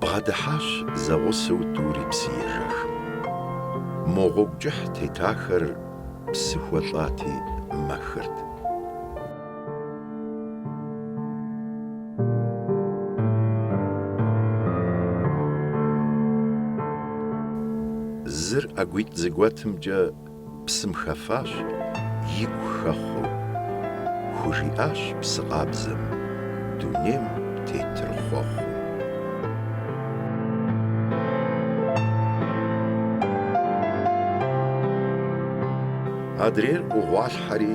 Бгъэдыхьащ зэгъусэу тӏури псыежэх. Мо гъуэгу кӏыхь тетахэр псы хуэлӏати, мэхырт. Зыр ӏэгуитӏ зэгуэтымкӏэ псым хэфащ, игу хэхъуэу. Хужиӏащ псы къабзэм, дунейм тетыр хъуэхъуу. Адрейр ӏугъуалъхьэри.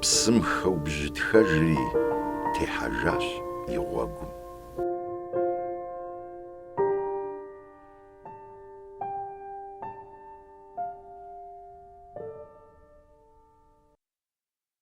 Псым хэубжьытхэжри техьэжащ и гъуэгум.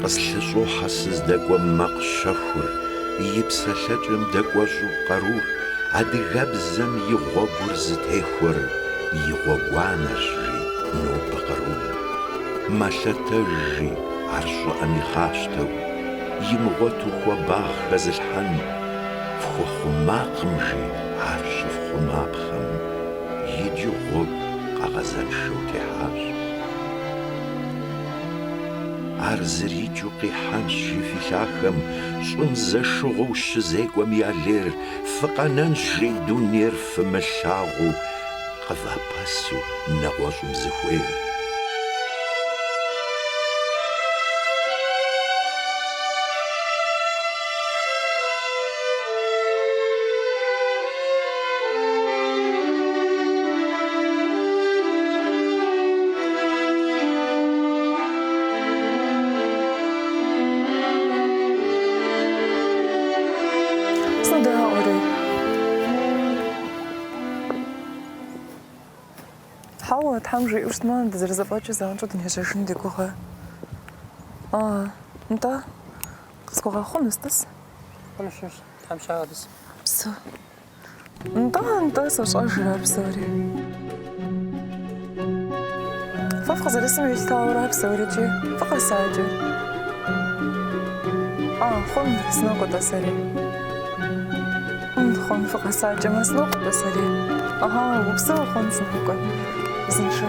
Къыслъыщӏохьэ сыздэкӏуэм макъ щэхур, и псэлъэкӏэм дэкӏуэщӏу къарур, адыгэбзэм и гъуэгур зытехуэр и гъуэгуанэрщ, жи нобэ кърум. Мэлъэтэж, жи ар щӏыӏэм игъащтэу, имыгъуэту хуабагъ хэзылъхьэн, фхуэхъумакъым, жи ар щыфхъумапхъэм, иджы гъуэгу къэгъэзэншэу техьащ. Ар зэрикӏыу къихьэнщ, жи фи лъахэм, Щӏым зэшыгъуэу щызекӏуэм я лейр, Фыкъэнэнщ, жи дунейр фымылъагъуу, Къывапэсу нэгъуэщӏым зыхуейр. Тхьэм жиӏэу щытмэ, дызэрызэфӏэкӏыу занщӏэу дынежьэжын ди гугъэ. А, нтӏэ, къысхуэгъэхъу, Мыстыс? Хъунущ, Тхьэм щагъэдыс. Псо. Нтӏэ, нтӏэ, сощӏэжыр ар псори. Фэ фыкъызэрысым елъытауэрэ ар псорикӏи фыкъэсакӏэ. А, хъун, сынокӏуэ-тӏэ сэри. Хъун, хъун, фыкъэсакӏэмэ, сынокӏуэ-тӏэ сэри. Ага, упсэу, хъун, сынокӏуэ. Узыншэ.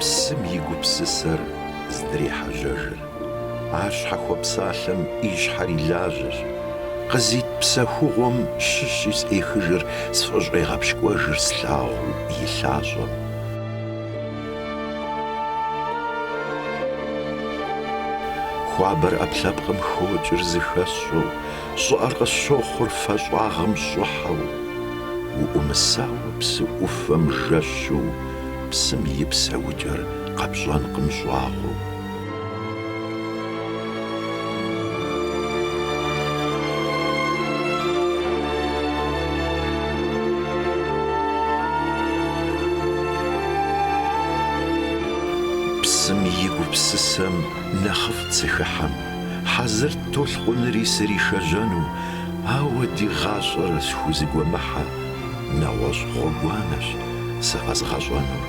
Псым и гупсысэр здрехьэжьэжыр. Ар щхьэхуэпсалъэм и щхьэр и лажьэщ. Къызит псэхугъуэм щыщи сӏехыжыр сфӏыщӏегъэпщкӏуэжыр слъагъуу и лъащӏэм. Хуабэр ӏэпкълъэпкъым хокӏыр зыхэсщӏэу, щӏыӏэр къысщохъур фэ щӏагъым щӏыхьэу. Уӏумысауэ псы ӏуфэм жэщу, псым и псэукӏэр къэпщӏэнкъым щӏагъуэу. Псым и гупсысэм нэхъыфӏт сыхыхьэм, Хьэзырт толъкъунри сыришэжьэну, Ауэ ди гъащӏэр схузэгуэмыхьэ, Нэгъуэщӏ гъуэгуанэщ сэ къэзгъэщӏэнур.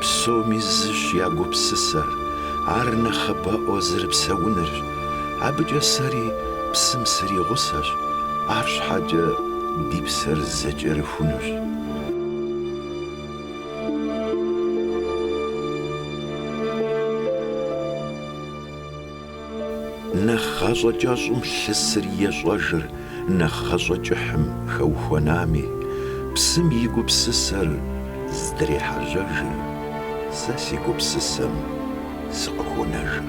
Псоми зыщ я гупсысэр, ар нэхъыбэӏуэ зэрыпсэунырщ. Абыкӏэ сэри псым сыригъусэщ, арщхьэкӏэ ди псэр зэкӏэрыхунущ. Нэхъ гъащӏэ кӏэщӏым лъысыр ещӏэжыр нэхъ гъащӏэ кӏыхьым хэухуэнами, псым и гупсысэр здрехьэжьэжыр, сэ си гупсысэм сыкъыхонэжыр.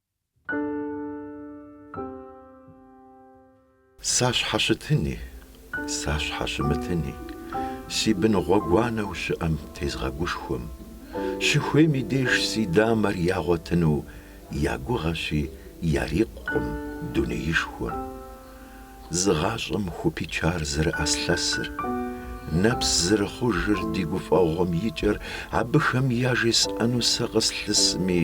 Сащхьэщытыни, сащхьэщымытыни, Си бын гъуэгуанэу щыӏэм тезгъэгушхуэм, Щыхуейм и деж си дамэр ягъуэтыну Я гугъэщи, ярикъукъым дунеишхуэм. Зы гъащӏэм хупичар зэрыӏэслъэсыр, Нэпс зэрыхъужыр ди гуфӏэгъуэм и кӏэр, Абыхэм яжесӏэну сэ къыслъысми,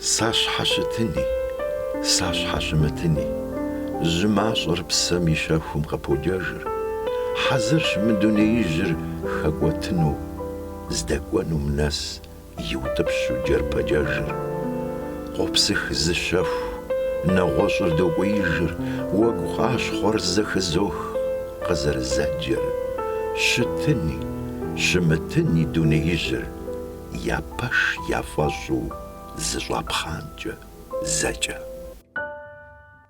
Сащхьэщытыни, сащхьэщымытыни, жьы мащӏэр псэм и щэхум къыподжэжыр, хьэзырщ мы дунеижьыр хэкӏуэтыну, здэкӏуэнум нэс Иутӏыпщу джэрпэджэжыр, къопсых зы щэху, нэгъуэщӏыр докӏуеижыр, уэгу къащхъуэр зэхызох къызэрызэджэр, щытыни, щымытыни дунеижьыр я пэш яфӏэщӏу зэщӏапхъанкӏэ зэкӏэ.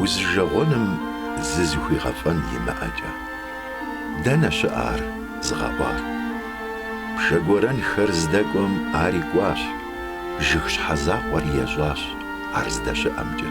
Узыжэгъуэным зызыхуигъэфӏэн имыӏэкӏэ. Дэнэ щыӏэ ар зыгъэӏуар? Пшэ гуэрэнхэр здэкӏуэм ар икӏуащ, жыг щхьэзакъуэр ещӏащ ар здэщыӏэмкӏэ.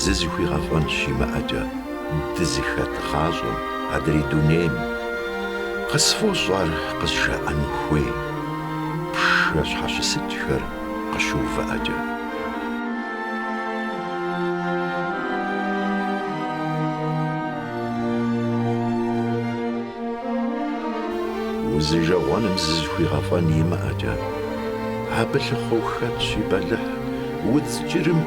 Зызыхуигъэфӏэн щимыӏэкӏэ дызыхэт гъащӏэм адрей дунейм. Къысфӏощӏ ар къызжаӏэну хуей пшэ щхьэщысыкӏхэр къыщыувыӏэкӏэ. Узыжэгъуэным зызыхуигъэфӏэн имыӏэкӏэ, абы лъыхъуэу хэтщ и бэлыхь удз кӏырым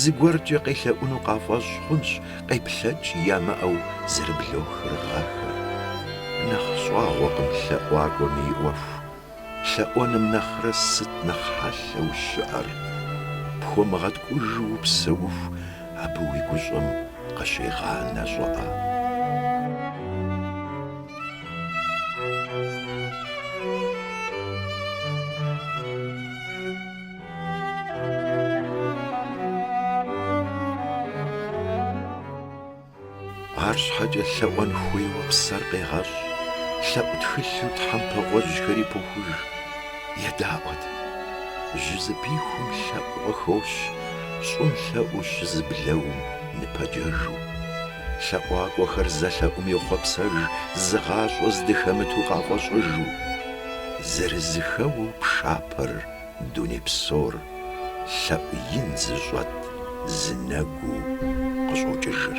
Зыгуэркӏэ къелъэӏуну къафӏэщӏ хъунщ къеплъэкӏ ямыӏэу зэрыблохыр гъэхэр. Нэхъ щӏагъуэкъым лъэӏуакӏуэм и ӏуэху. Лъэӏуэным нэхърэ сыт нэхъ хьэлъэу щыӏэр? Пхуэмыгъэткӏужу упсэуху абы уи гущӏэм къыщегъанэ щӏыӏэ. Арщхьэкӏэ лъэӏуэн хуейуэ псэр къегъэщӏ, лъэӏу тхылъу тхьэмпэ гъуэжьхэри похуж. Едаӏуэт. Жьы зыпихум лъэӏу къыхощ, щӏым лъэӏу щызыблэум ныпэджэжу. Лъэӏуакӏуэхэр зэлъэӏум йохъуэпсэж зы гъащӏэ здыхэмыту къафӏэщӏыжу. Зэрызэхэуэу пшапэр Дуней псор лъэӏу ин зыщӏэт зы нэгуу къыщӏокӏыжыр.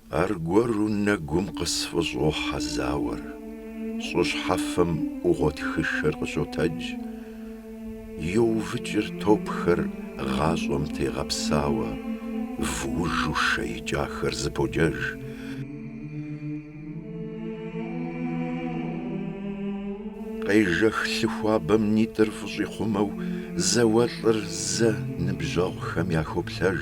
Аргуэру нэгум къысфӏыщӏохьэ зауэр, щӏы щхьэфэм ӏугъуэтхышэр къыщотэдж, йоувэкӏыр топхэр гъащӏэм тегъэпсауэ, вуужу шэ икӏахэр зэподжэж. Къежэх лъы хуабэм нитӏыр фӏыщӏихъумэу, зауэлӏыр зэ ныбжьэгъухэм яхоплъэж.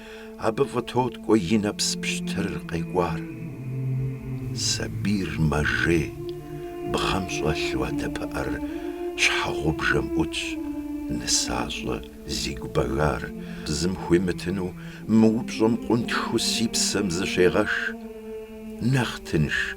Абы фӏытоткӏуэ и нэпс пщтыр къекӏуар. Сабийр мэжей, бгъэм щӏэлъу адэ пыӏэр щхьэгъубжэм ӏутщ, нысащӏэ, зи гу бэгар, зым хуимытыну мы упщӏэм къунтхыу си псэм зыщегъэш. Нэхъ тынш.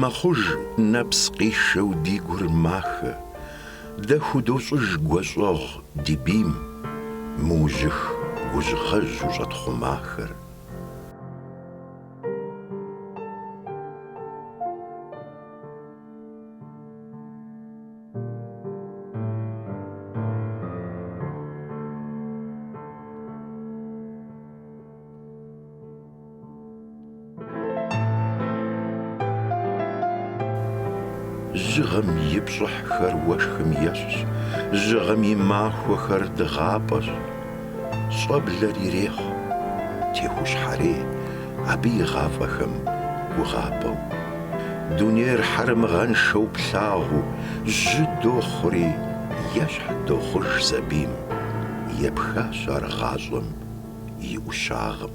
Мэхъуж нэпс къишэу ди гур махэ, Дэ худощӏыж гущӏэгъу ди бийм, Мэужьых гужьгъэжьу щӏэтхъумахэр. Жьыгъэм и пщӏыхьхэр уэшхым ещхьщ, жьыгъэм и махуэхэр дыгъапӏэщ. Щӏэблэр ирехъу, техущхьэрей абы и гъафӏэхэм гугъапӏэу. Дунейр хьэрэмыгъэншэу плъагъуу, жьы дохъури, ещхь дохъуж сабийм. Епхащ ар гъащӏэм и ӏущагъым.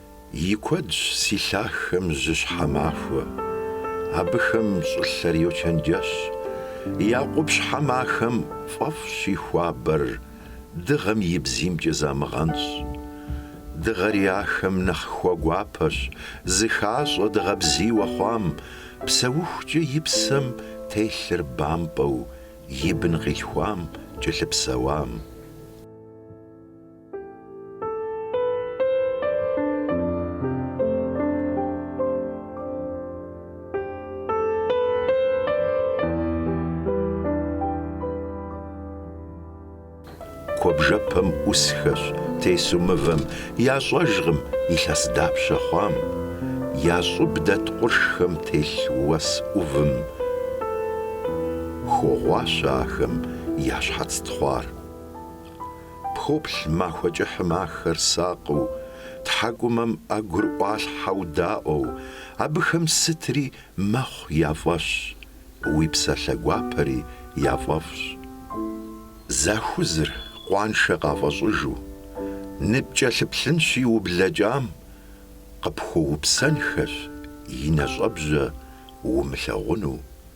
И куэдщ си лъахэм жьыщхьэ махуэ, абыхэм щӏылъэр йочэнджэщ, я къупщхьэ махэм фӏэфӏщ и хуабэр, дыгъэм и бзиймкӏэ замыгъэнщӏ. Дыгъэри ахэм нэхъ хуэгуапэщ, зыхащӏэ дыгъэ бзийуэ хъуам, псэухукӏэ и псэм телъыр бампӏэу, и бын къилъхуам, кӏэлъыпсэуам. Куэбжэпэм ӏусхэщ тесу мывэм, Ящӏэжкъым илъэс дапщэ хъуам. Я щӏыб дэт къуршхэм телъ уэс ӏувым, Хогъуащэ ахэм я щхьэц тхъуар. Пхоплъ махуэ кӏыхьым ахэр сакъыу, тхьэкӏумэм ӏэгур ӏуалъхьэу даӏуэу, абыхэм сытри мэхъу я фӏэщ, уи псалъэ гуапэри яфӏэфӏщ. Захузыр къуаншэ къафӏэщӏыжу, ныпкӏэлъыплъынщи ублэкӏам, къыпхуэупсэнхэщи нэщӏэбжьэ умылъагъуну.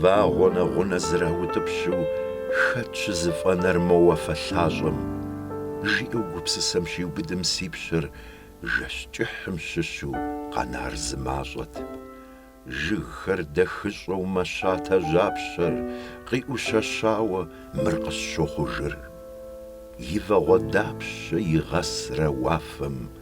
Вагъуэ нэгъунэ зэраутӏыпщу хэт щызэфӏэнэр мо уафэ лъащӏэм? жиӏэу гупсысэм щиубыдым си пщэр жэщ кӏыхьым щыщу къэнар зы мащӏэт. Жыгхэр дэхыщӏэу мэщатэ жьапщэр къиӏущэщауэ мыр къысщохъужыр. И вагъуэ дапщэ игъэсрэ уафэм?